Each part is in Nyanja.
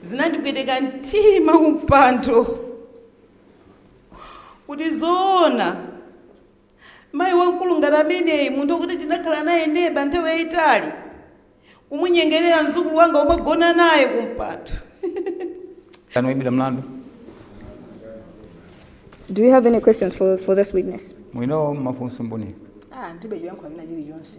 Zinandipweteka mtima kumpando kuti zoona mayi wamkulu ngati ameneyu munthu okuti tinakhala naye neba nthawi yayitali kumunyengerera mzukulu wanga kumagona naye kumpando Kwa oyimbidwa mlandu? Do you have any questions for, for this witness? Mwina mafunso mboni. Ah, ndilibe choyankha china chilichonse.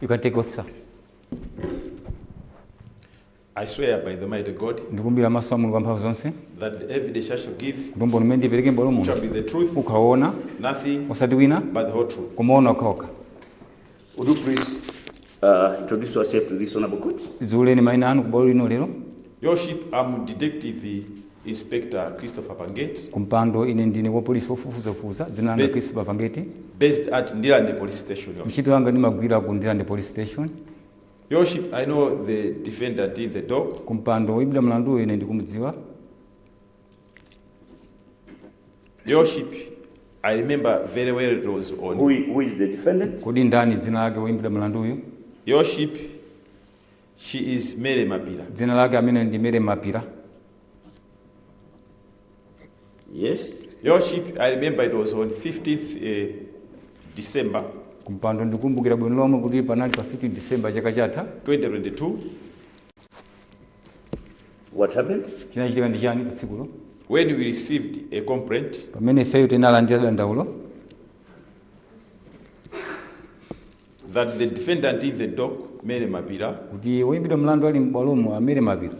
You can take oath, sir. I swear by Almighty God ndikulumbira pamaso pa mulungu wamphamvu zonse that the evidence I shall give kuti umboni umene ndipereke m'bwalo muno shall be the truth, ukhala woona nothing osati wina but the whole truth. koma woona wokhawokha Would you please uh, introduce yourself to this honorable court? dziuleni maina anu kubwalo lino lero Your Worship, I'm Detective Inspector Christopher Pangeti, kumpando ine ndine wapolisi wofufuzafufuza dzina langa Be- christopher pangeti based at Ndirande Police Station. Your Worship. ntchito yanga ndimagwira ku ndirande police station Your Worship, I know the defendant in the dock. kumpando woyimbidwa mlanduyo ine ndikumudziwa Worship, I remember very well it was on. Who, who is the defendant? Kodi ndani dzina lake woyimbidwa mlanduyu? Worship, she is Mary Mapira. Dzina lake ameneyu ndi Mary Mapira. Yes. Worship, I remember it was on 15th uh, eh, December. Kumpando ndikumbukira bwino lomwe kuti panali pa 15 December chaka chatha 2022 What happened? chinachitika ndi chani pa tsikulo When we received a complaint, pamene ifeyo tinalandira dandaulo that the defendant in the dock, Mary Mapira, kuti woyimbidwa mlandu ali m'bwalomu a Mary Mapira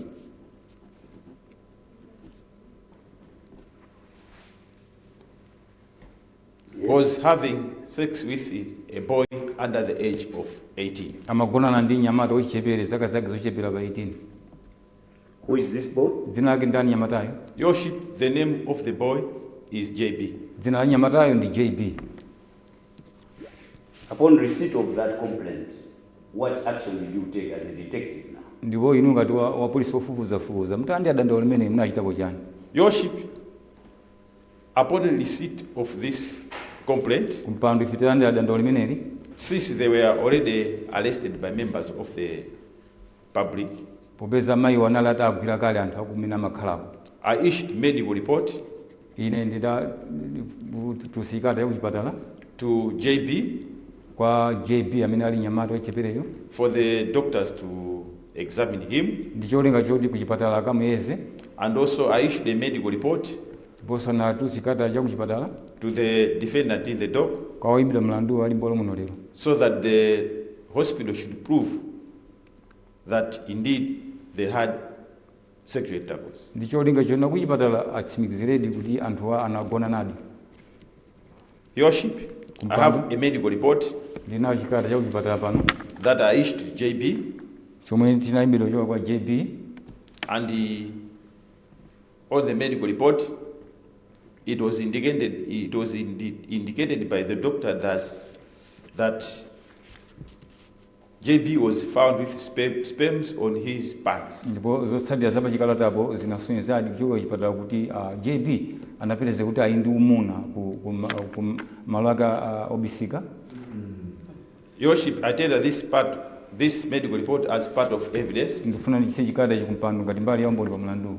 was having sex with a boy under the age of 18. amagonana ndi mnyamata wachichepere zaka zake zochepera pa 18 Who is this boy? dzina lake ndani mnyamatayo Your worship, the name of the boy is JB. dzina la mnyamatayo ndi jb Upon receipt of that complaint, what action did you take as a detective now? ndipo inu ngati wa- wapolisi wofufuzafufuza mutalandira dandaulo limeneli munachitapo chani Your worship, upon receipt of this complaint, kumpando ife titalandira dandaulo limeneli since they were already arrested by members of the public, popeza mayiwo anali atagwidwa kale ndi anthu akumene amakhalako I issued medical report ine ndidatulutsa chikalata yakuchipatala to JB kwa JB amene ali nyamata wachichepereyo. for the doctors to examine him. ndi cholinga choti kuchipatala akamuyeze. and also I issued a medical report. ndiponso ndinatulutsa chikalata cha kuchipatala. to the defendant in the dock. kwa oyimbidwa mlandu ali m'bwalo muno lero. so that the hospital should prove that indeed they had sexual intercourse. ndi cholinga choti akuchipatala atsimikiziredi kuti anthuwa anagonanadi. Your Worship, I have a medical report ndinacho chikalata cha kuchipatala pano that I issued to JB chomwe chinaimbidwa kuchoka kwa jb and the, on the medical report it was indicated it was indi, indicated by the doctor that that JB was found with sperm, sperms on his pants. ndipo zotsatira za pachikalatapo zinasonyezadi kuchokera kuchipatala kuti ah, jb anapezeka kuti ali ndi umuna ku, ku, ma- ku ma- malo ake ah, obisika Your Worship, I tender this part, this medical report as part of evidence. ndikufuna ndichite chikalatachi kumpando ngati mbali ya umboni pa mlanduwu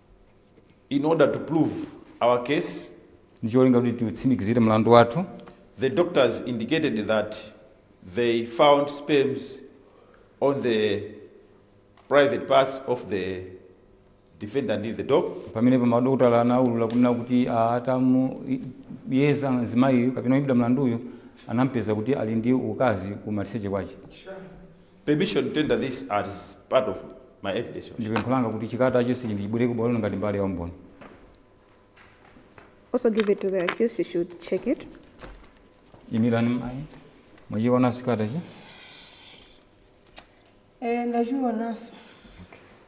in order to prove our case, ndi cholinga kuti tiutsimikizire mlandu wathu the doctors indicated that they found sperms on the private parts of the defendant in the dock. pamenepo madokotala anaulula kunena kuti ah, atamuyeza mzimayiyu kapena oyimbidwa mlanduyu anampeza kuti ali ndi ukazi ku maliseche kwache permission to tender this as part of my evidence, Your Ndi pempho langa kuti chikalatachi ndichipereke ku bwalo lino ngati mbali ya umboni. Also give it to the accused, he should check it. Imirani mayi. Mwachiona chikalatachi? Eh, ndachiwonanso.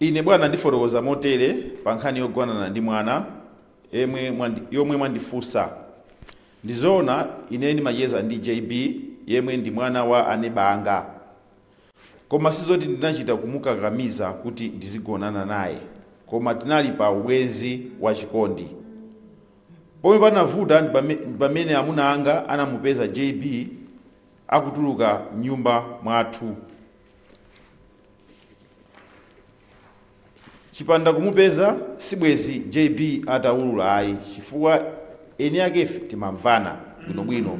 Ine, bwana, ndifotokoza motere pa nkhani yogonana ndi mwana yomwe mwandi, yomwe mwandifunsa. Ndi zoona ine ndimacheza ndi JB yemwe ndi mwana wa aneba anga, koma sizoti ndinachita kumukakamiza kuti ndizigonana naye, koma tinali pa ubwenzi wa chikondi. Pomwe panavuta ndi pame- ndi pamene amuna anga anamupeza JB akutuluka m'nyumba mwathu. chipanda kumupeza sibwezi jb ataulula ayi chifukwa eni akefe timamvana bwinobwino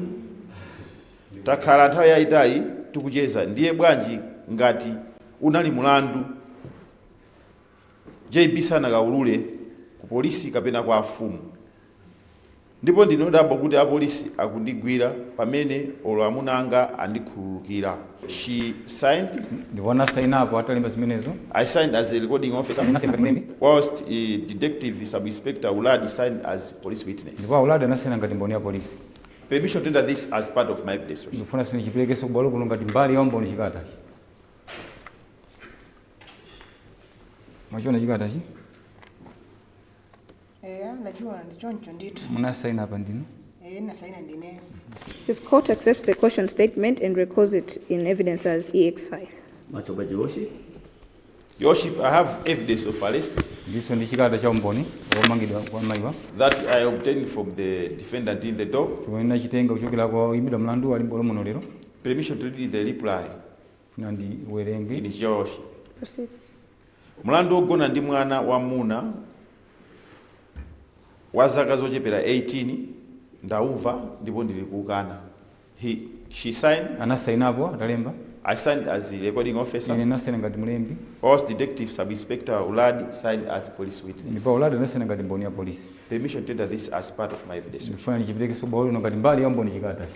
takhala nthawi yayitali tikucheza ndiye bwanji ngati unali mulandu JB asakaulule ku polisi kapena kwa afumu ndipo ndine odabwa kuti apolisi akundigwira pamene olo amuna anga andikhululukira she signed ndipo anasaina apo atalemba zimenezo I signed as a recording officer whilst uh, detective sub inspector Uladi signed as police witness ndipo auladi anasaina ngati mboni ya polisi permission to tender this as part of my evidence ndikufuna ndichiperekenso kubwalo kuno ngati mbali ya umboni chikata mwachiona chikatachi eya ndachiona ndi choncho ndithu munasaina apa ndinu eya ndinasaina ndineyo This court accepts the caution statement and records it in evidence as EX5. Much obliged, Your Worship. Your Worship, I have evidence of arrest ndilinso ndi chikata cha umboni womangidwa kwa mayiwa that I obtained from the defendant in the dock. chomwe ndinachitenga kuchokera kwa oyimbidwa mlandu ali m'bwalo muno lero Permission to read the reply. ndifuna ndiwerenge It is yours. Proceed. mlandu wogona ndi mwana wamuna wa zaka zochepera 18 ndaumva ndipo ndilikukana she signed anasainapo atalemba i signed as the recording ine officer ndinasaina ngati mlembi whilst detective sub inspector uladi signed as police witness ndipo uladi anasaina ngati mboni ya polisi permission to tender this as part of my evidence ndikufuna ndichiperekenso kubwalo lino ngati mbali ya umboni chikatachi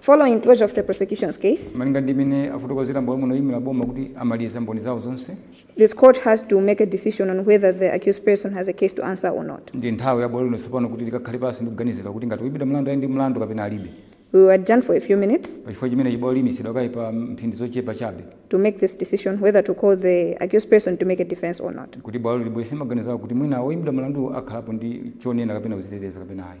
Following closure of the prosecution's case, Malinga ndi mmene afotokozera m'bwalo muno oyimira boma kuti amaliza mboni zawo zonse this court has to make a decision on whether the accused person has a case to answer or not. ndi nthawi ya bwalo lino tsopano kuti likakhale pansi ndi kuganizira kuti ngati woimbidwa mlandu ali ndi mlandu kapena alibe We will adjourn for a few minutes pachifukwa chimenechi bwalo liyimitsidwa kaye pa mphindi zochepa chabe to make this decision whether to call the accused person to make a defense or not. kuti bwalo libwezere maganizo awo kuti mwina woimbidwa mlandu akhalapo ndi chonena kapena kudzitetezera kapena ayi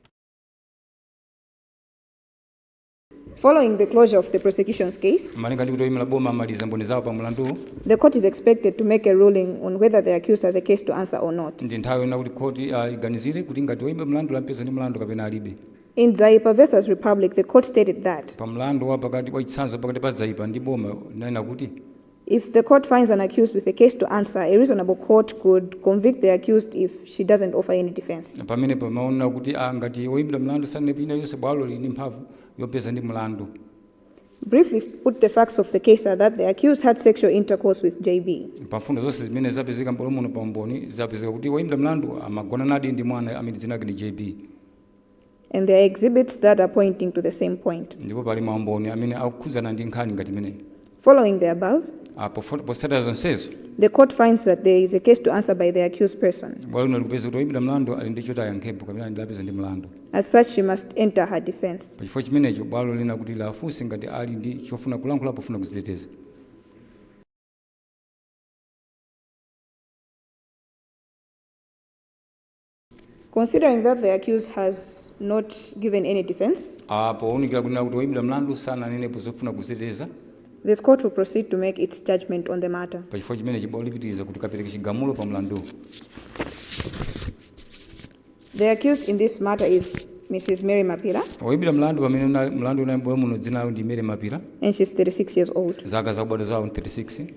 Following the closure of the prosecution's case, malinga ndi kuti oyimira boma amaliza mboni zawo pa mlanduwu the court is expected to make a ruling on whether the accused has a case to answer or not. ndi nthawi ino kuti khoti liganizire kuti ngati woyimbidwa mlandu lampeza ndi mlandu kapena alibe In Dzaipa versus Republic, the court stated that pa mlandu wa pakati wachitsanzo pakati pa Dzaipa ndi boma linanena kuti If the court finds an accused with a case to answer, a reasonable court could convict the accused if she doesn't offer any defense. pamene pamaona kuti ah, ngati woyimbidwa mlandu sanenapo china chilichonse bwalo lili ndi mphamvu yopeza ndi mlandu Briefly put the facts of the case are that the accused had sexual intercourse with JB. pa mfundo zonse zimene zapezeka m'bwalo muno pa umboni zapezeka kuti woyimbidwa mlandu amagonanadi ndi mwana amene dzina lake ndi JB And there are exhibits that are pointing to the same point. ndipo pali maumboni amene akukhudzana ndi nkhani ngati imeneyi Following the above, Ah, pofo- potsatira zonsezo the court finds that there is a case to answer by the accused person. bwalo lino likupeza kuti woyimbidwa mlandu ali ndi choti ayankhepo kapena ali lawapeza ndi mlandu As such, she must enter her defense. pa chifukwa chimenecho bwalo lina kuti liwafunse ngati ali ndi chofuna kulankhula pofuna kudziteteza Considering that the accused has not given any defense, Ah, pounikira kunena kuti woimbidwa mlandu sananenepo zofuna kuziteteza this court will proceed to make its judgment on the matter. pa chifukwa chimenechi bwalo lipitiriza kuti kapereke chigamulo pa mlanduwu The accused in this matter is Mrs. Mary Mapira, woimbidwa mlandu pamene una- mlandu unali m'bwalo muno dzina lawo ndi Mary Mapira and she's 36 years old. zaka zakubadwa zawo 36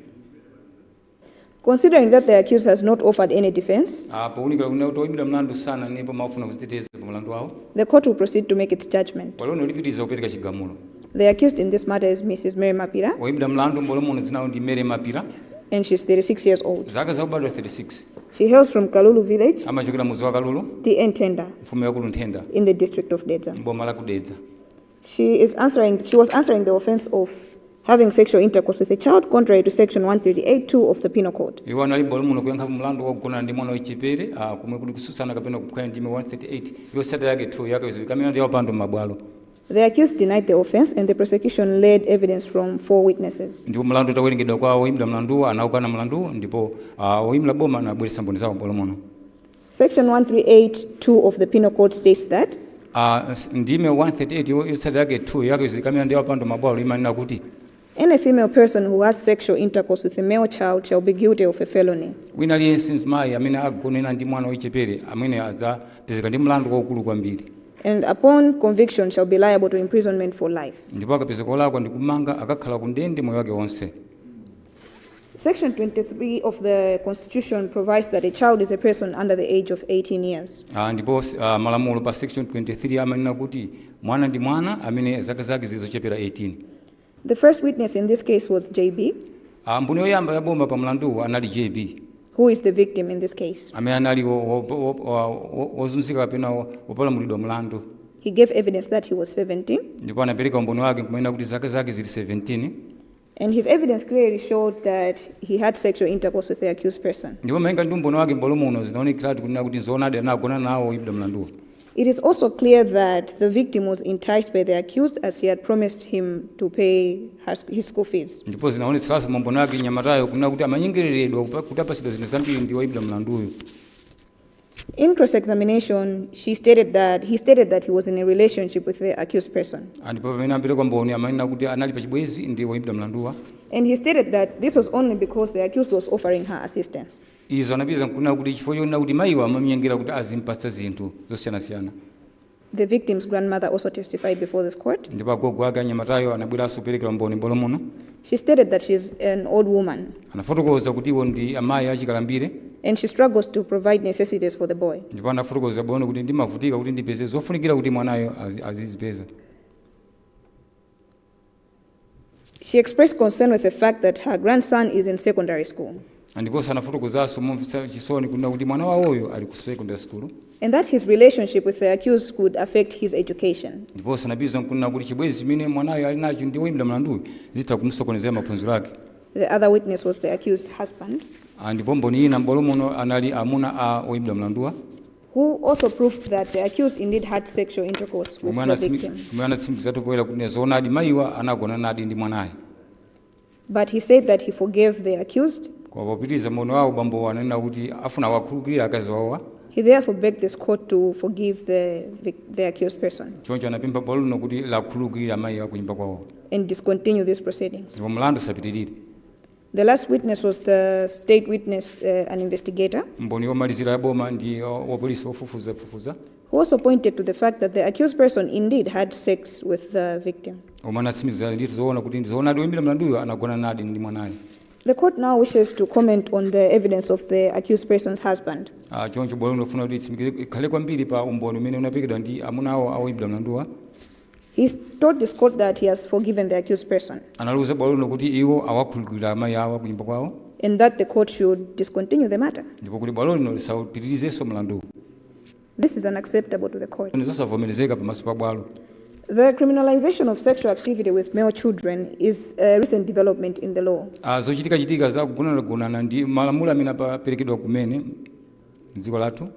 Considering that the accused has not offered any defense. Ah, pounikira kunena kuti oyimbidwa mlandu sananenepo mawu ofuna kudziteteza pa mlandu wawo. The court will proceed to make its judgment. Bwalo lino lipitiriza kupereka chigamulo. The accused in this matter is Mrs. Mary Mapira. Oyimbidwa mlandu m'bwalo muno dzina lawo ndi Mary Mapira. And she's 36 years old. Zaka zakubadwa 36. She hails from Kalulu village. Amachokera m'mudzi wa Kalulu. TA Nthenda. Mfumu yaikulu Nthenda. In the district of Dedza. M'boma la ku Dedza. She is answering, she was answering the offense of having sexual intercourse with a child contrary to section 138.2 of the Penal Code. iwo anali m'bwalo muno kuyankha mlandu wogonana ndi mwana wachichepere ah, komwe kuli kutsutsana kapena kuphwanya ndime 138 yotsatira yake 2 yake izoyika milandu ya upandu m'mabwalo The accused denied the offense and the prosecution led evidence from four witnesses. ndipo mlandu utawerengedwa kwa oyimbidwa mlanduwo anawukana mlanduwo ndipo ah, oyimira boma anabweretsa mboni zawo m'bwalo muno Section 1382 of the Penal Code states that Ah, s- ndime 138 yo- yotsatira yake 2 yake zika milandu ya upandu m'mabwalo imanena kuti any female person who has sexual intercourse with a male child shall be guilty of a felony. wina aliyense mzimayi amene agonana ndi mwana wachichepere amene adzapezeka ndi mlandu waukulu kwambiri And upon conviction shall be liable to imprisonment for life. ndipo akapezeka olakwa ndi kumanga akakhala ku ndende moyo wake wonse Section 23 of the Constitution provides that a child is a person under the age of 18 years. Ah, ndipo uh, malamulo pa section 23 amanena kuti mwana ndi mwana amene zaka zake zili zochepera 18 The first witness in this case was JB, Ah, mboni yoyamba yaboma pa mlanduwu anali JB who is the victim in this case. amene anali wo- wo- wo- wo- wo- wozunzika kapena wo- wopalamulidwa mlandu He gave evidence that he was 17 ndipo anapereka umboni wake kumanena kuti zaka zake zili 17 And his evidence clearly showed that he had sexual intercourse with the accused person. ndipo malinga ndi umboni wake m'bwalo muno zinaonekeratu kunena kuti nzoonadi anagona nawo oyimbidwa mlanduwo It is also clear that the victim was enticed by the accused as he had promised him to pay her, his school fees. ndipo zinaonetseranso mu umboni wake mnyamatayo kunena kuti amanyengereredwa kupa- kuti apatsidwa zinthu zambiri ndi oyimbidwa mlanduyo In cross examination, he stated that he was in a relationship with the accused person. ndipo pamene amapereka umboni amanena kuti anali pa chibwenzi ndi woimbidwa mlanduwa And he stated that this was only because the accused was offering her assistance. izo anapitiriza nkunena kuti chifukwa chonena kuti mayiwa amamnyengera kuti azimpatsa zinthu zosiyanasiyana The victim's grandmother also testified before this court. ndipo agogo ake a mnyamatayo anabweranso kuperekera umboni m'bwalo muno She stated that she's an old woman anafotokoza kuti iwo ndi amayi achikalambire and she struggles to provide necessities for the boy. ndipo anafotokoza bwino kuti ndimavutika kuti ndipeze zofunikira kuti mwanayo azi- azizipeza She expressed concern with the fact that her grandson is in secondary school ndiponso anafotokozanso momvetsa chisoni kunena kuti mwana wawoyo ali ku secondary school and that his relationship with the accused could affect his education. ndiponso anapitiriza nkunena kuti chibwenzi chimene mwanayo ali nacho ndi woyimbidwa mlanduyo zitha kumsokonezera maphunziro ake The other witness was the accused's husband. Ah, ndipo mboni ina m'bwalo muno anali amuna a woyimbidwa mlanduwa who also proved that the accused indeed had sexual intercourse with omwe the anatsimi- victim. omwe anatsimikiza poyera kuti nzoonadi mayiwa anagonanadi ndi mwanayo But he said that he forgave the accused. koma popitiriza umboni wawo bambowa ananena kuti afuna awakhululukire akazi wawowa He therefore begged this court to forgive the, vic- the accused person choncho anapempha bwalo lino kuti liwakhululukire mayi akunyumba kwawo and discontinue these proceedings. ndipo mlandu usapitirire The last witness was the state witness, uh, an investigator, mboni yomalizira ya boma ndi uh, wapolisi wofufuzafufuza who also pointed to the fact that the accused person indeed had sex with the victim. omwe anatsimikiza ndithu zoona kuti ndi zoonadi woyimbidwa mlanduyo anagona nadi ndi mwanayo The court now wishes to comment on the evidence of the accused person's husband. Ah, choncho bwalo lino lifuna kuti itsimikize ikhale kwambiri pa umboni umene unaperekedwa ndi amuna awo a woyimbidwa mlanduwa He told this court that he has forgiven the accused person analiuza bwalo lino kuti iwo awakhululukira amayi akunyumba kwawo and that the court should discontinue the matter. ndipo kuti bwalo lino lisapitirizenso mlanduwu This is unacceptable to the court. nzosavomerezeka pamaso pa bwalo The criminalization of sexual activity with male children is a recent development in the law. Ah, zochitikachitika za kugonanagonana ndi malamulo amene aperekedwa kumene mdziko lathu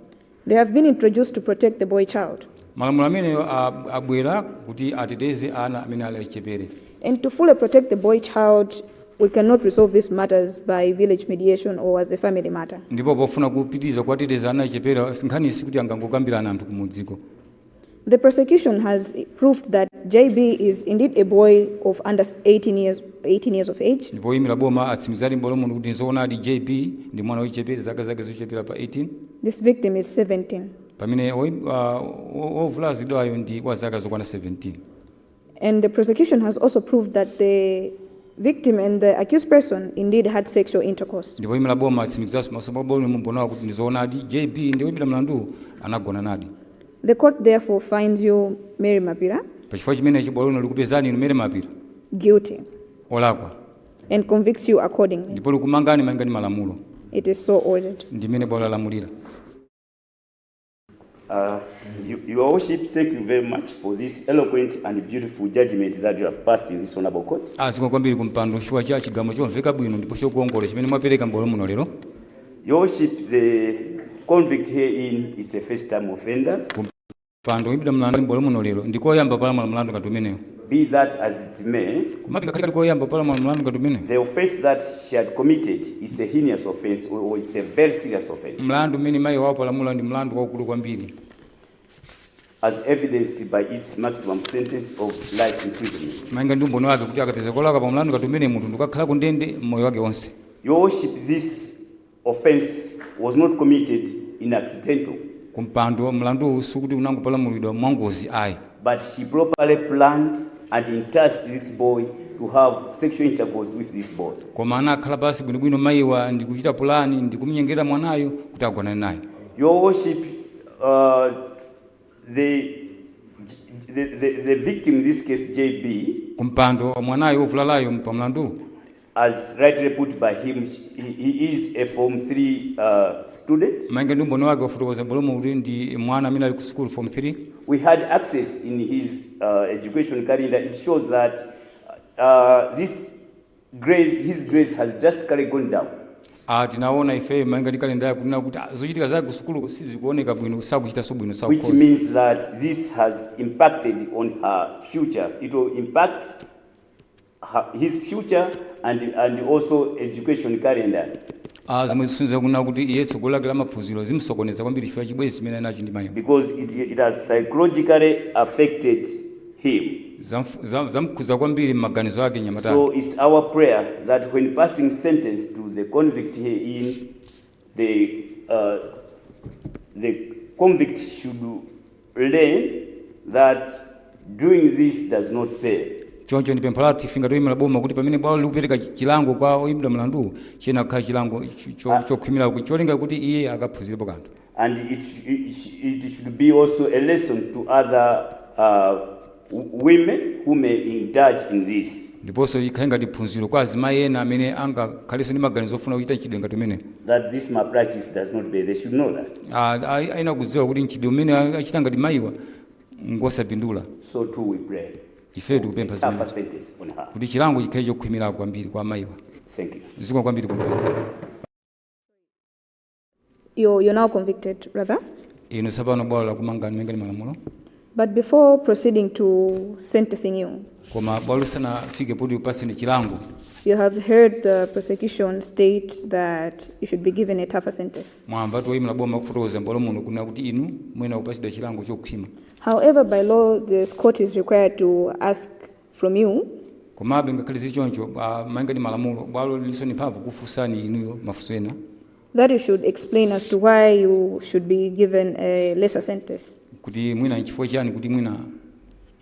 They have been introduced to protect the boy child. malamulo amenewa a- abwera kuti ateteze ana amene ali achichepere And to fully protect the boy child, we cannot resolve these matters by village mediation or as a family matter. ndipo pofuna kupitiriza kuwateteza ana achichepere nkhani sikuti angangokambirana anthu kumudziko The prosecution has proved that JB is indeed a boy of under 18 years, 18 years of age. ndipo oyimira boma atsimikizadi m'bwalo muno kuti nzoonadi jb ndi mwana wochepera zaka zake zochepera pa 18 This victim is 17. pamene oyi- ah, o- ovulazidwayo ndi wa zaka zokwana 17 And the prosecution has also proved that the victim and the accused person indeed had sexual intercourse. ndipo oimira boma atsimikizanso pamaso pa bwalo mu umboniwu kuti ndizoonadi jb ndi woimbidwa mlandu anagonanadi The court therefore finds you, Mary Mapira, pachifukwa chimenechi bwalo lino likupezani inu Mary Mapira guilty olakwa and convicts you accordingly. ndipo likumangani malinga ndi malamulo It is so ordered. ndimene bwalo lalamulira Uh, you, Your Worship, thank you very much for this eloquent and beautiful judgment that you have passed in this honorable court. a zikomo kwambiri ku mpando chifukwa cha chigamulo chomveka bwino ndipo chokuongola chimene mwapereka m'bwalo muno lero Your Worship, the convict herein is a first-time offender. kumpando woimbidwa mlandu m'bwalo muno lero ndikoyamba kupalamula mlandu ngati umenewu Be that as it may, Komabe, ngakhale kali koyamba kupalamula mlandu ngati umenewu, the offense that she had committed is a heinous offense or or it's a very serious offense, mlandu umene mayiwa apalamula ndi mlandu waukulu kwambiri, as evidenced by its maximum sentence of life imprisonment. malinga ndi umboni wake kuti akapezeka olakwa pa mlandu ngati umenewu munthu ndikukakhala ku ndende moyo wake wonse. Your worship, this offence was not committed in accidental. kumpando. Mlanduwu sikuti unangopalamulidwa mwangozi ayi. but she properly planned and enticed this boy to have sexual intercourse with this boy. koma anakhala pansi bwinobwino mayiwa ndi kuchita pulani ndi kumnyengerera mwanayu kuti agonane naye. Your worship, uh, the, the, the, the victim in this case, JB, kumpando. Mwanayu wovulalayu pa mlanduwu as rightly put by him, he, he is a Form 3 uh, student. malinga ndi umboni wake wafotokoza m'bwalo muno kuti ndi mwana amene ali ku sukulu form 3 We had access in his uh, education calendar. It shows that uh, his grades, his grades has drastically gone down. Ah, tinaona ife malinga ndi kalenda yake kunena kuti ah, zochitika zake ku sukulu sizikuoneka bwino sakuchitanso bwino Which sakukhoza means that this has impacted on her future. It will impact her, his future and, and also education calendar. Ah, zomwe zisonyeza kunena kuti iye tsogolo lake la maphunziro zimsokoneza kwambiri chifukwa cha chibwenzi chimene anali nacho ndi mayiwa because it, it has psychologically affected him. Zamf- zam- zamkhudza kwambiri m'maganizo ake mnyamatayo So it's our prayer that when passing sentence to the convict herein, the, uh, the convict should learn that doing this does not pay. choncho ndi pempho lathu ife ngati oyimira boma kuti pamene bwalo likupereka chi- chilango kwa oyimbidwa mlandu chiyenera kukhala chilango cho- cho- chokhwimira kuti cholinga kuti iye akaphunzirepo kanthu And it, sh- it, sh- it should be also a lesson to other uh, women who may indulge in this. ndiponso ikhale ngati phunziro kwa azimayi ena amene angakhalenso ndi maganizo ofuna kuchita mchitidwe ngati umene that this malpractice does not pay. They should know that. Ah, ayenera kudziwa kuti mchitidwe umene achita ngati mayiwa ngosapindula So too we pray. ife tikupempha Tougher zimene sentence on her. kuti chilango chikhale chokhwimira kwambiri kwa mayiwa Thank you. zikomo kwambiri kumpando You're, you're now convicted, rather. inu tsopano bwalo lakumangani malinga ndi malamulo But before proceeding to sentencing you, koma bwalo lisanafike poti likupatseni chilango you have heard the prosecution state that you should be given a tougher sentence. mwamva oyimira boma akufotokoza m'bwalo muno kunena kuti inu muyenera kupatsidwa chilango chokhwima However, by law, this court is required to ask from you. Komabe ngakhale zili choncho, bwa- malinga ndi malamulo, bwalo lilinso ndi mphamvu kukufunsani inuyo mafunso ena. that you should explain as to why you should be given a lesser sentence. kuti mwina nchifukwa chiyani kuti mwina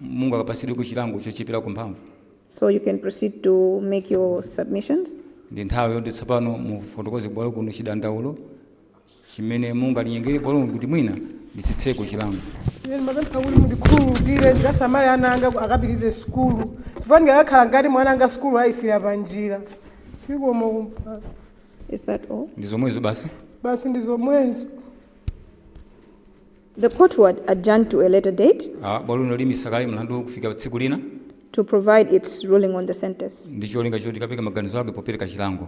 mungakapatsidweko chilango chocheperako mphamvu So you can proceed to make your submissions. ndi nthawi yoti tsopano mufotokoze kubwalo kuno chidandaulo chimene mungalinyengerere bwaloli kuti mwina litsitseko chilango. Ine ndimapempha kuti mundikhululukire ndikasamale ana anga ku- akapitirize sukulu chifukwa ndikakhala kundende ana anga sukulu ayisiya pa njira zikomo kumpando Is that all? ndi zomwezo basi basi ndi zomwezo The court would adjourn to a later date Ah, bwaloli liyimitsa kaye mlandu kufika tsiku lina to provide its ruling on the sentence. ndi cholinga choti likapereke maganizo ake popereka chilango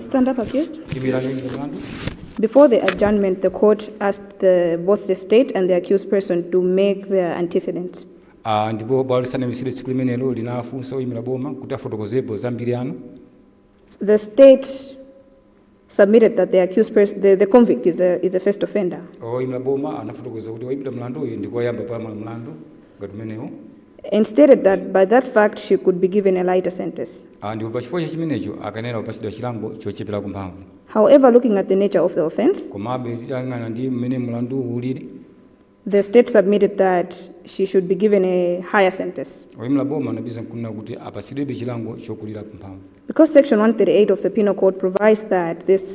Stand up, accused. Before the adjournment, the court asked the, both the state and the accused person to make their antecedents. Ah, ndipo bwalo lisanayimitsidwe tsiku limenelo linafunsa oyimira boma kuti afotokozepo za mbiri yanu The state submitted that the accused person, the, the convict is a, is a first offender. oyimira boma anafotokoza kuti oyimbidwa mlandu uyu ndikoyamba kupalamula mlandu ngati umenewo and stated that by that fact she could be given a lighter sentence. Ah, ndipo pa chifukwa cha chimenecho akanayenera kupatsidwa chilango chocheperako mphamvu However, looking at the nature of the offense, komabe titayang'ana ndi mmene mlanduwu ulili the state submitted that she should be given a higher sentence. oyimira boma anapitiriza kunena kuti apatsidwebe chilango chokulirako mphamvu Because Section 138 of the Penal Code provides that this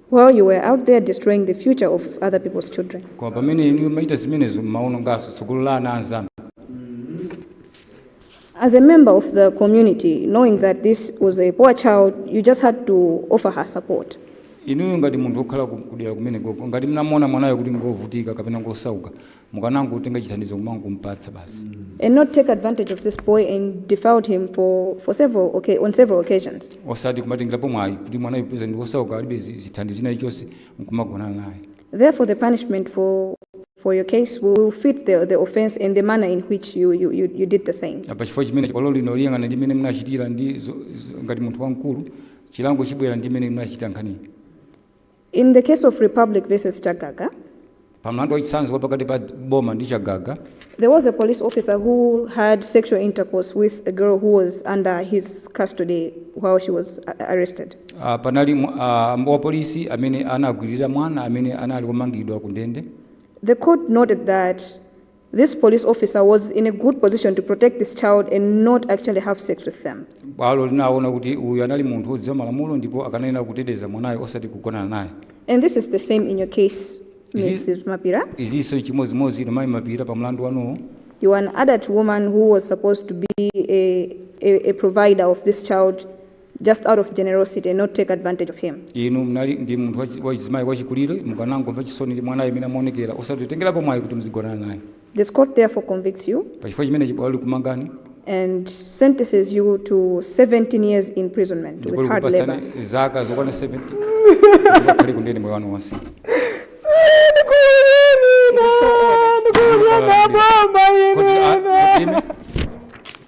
while you were out there destroying the future of other people's children. koma pamene inu mumachita zimenezo mumaononganso tsogolo la ana anzanu As a member of the community, knowing that this was a poor child, you just had to offer her support. inuyo ngati munthu wokhala ku- kudera kumene kuja ngati mnamuona mwanayo kuti ngovutika kapena ngosauka mukanangotenga chithandizo nkungompatsa basi and not take advantage of this boy and defiled him for, for several okay, on several occasions. osati kumatengerapo mwayi kuti mwanayo poti ndi osauka alibe zi- zithandizo china chilichonse nkumagonana naye Therefore, the punishment for for your case will fit the, the offense and the manner in which you, you, you, you did the same. pachifukwa chimenecho bwalo lino liyang'ana ndi mmene munachitira ndi zo- zo- ngati munthu wamkulu chilango chibwera ndi mmene munachitira nkhaniyi In the case of Republic versus Chagaga, Pa mlandu wa chitsanzo wa pakati pa boma ndi Chagaga, there was a police officer who had sexual intercourse with a girl who was under his custody while she was uh, arrested. ah, panali mwa- ah, wapolisi amene anagwirira mwana amene anali womangidwa ku ndende. The court noted that This police officer was in a good position to protect this child and not actually have sex with them. Bwalo linaona kuti uyu anali munthu wodziwa malamulo ndipo akanayenera kuteteza mwanayo osati kugonana naye. And this is the same in your case, Mrs. Mapira. Izinso chimodzimodzi inu mai Mapira pa mlandu wanuwo. You are an adult woman who was supposed to be a, a, a provider of this child just out of generosity and not take advantage of him. inu mnali ndi munthu wachi- wachizimayi wachikulire mukanangomva chisoni ndi mwanayo mmene amaonekera osati kutengerapo mwayi kuti muzigonana naye This court therefore convicts you pachifukwa chimenechi bwalo likumangani and sentences you to 17 years imprisonment ndipo with hard labor. likupatsani zaka zokwana 17 mukakhale kundende moyo wanu wonse Ndikukumbira baba ine. Kodi a- kodi ine-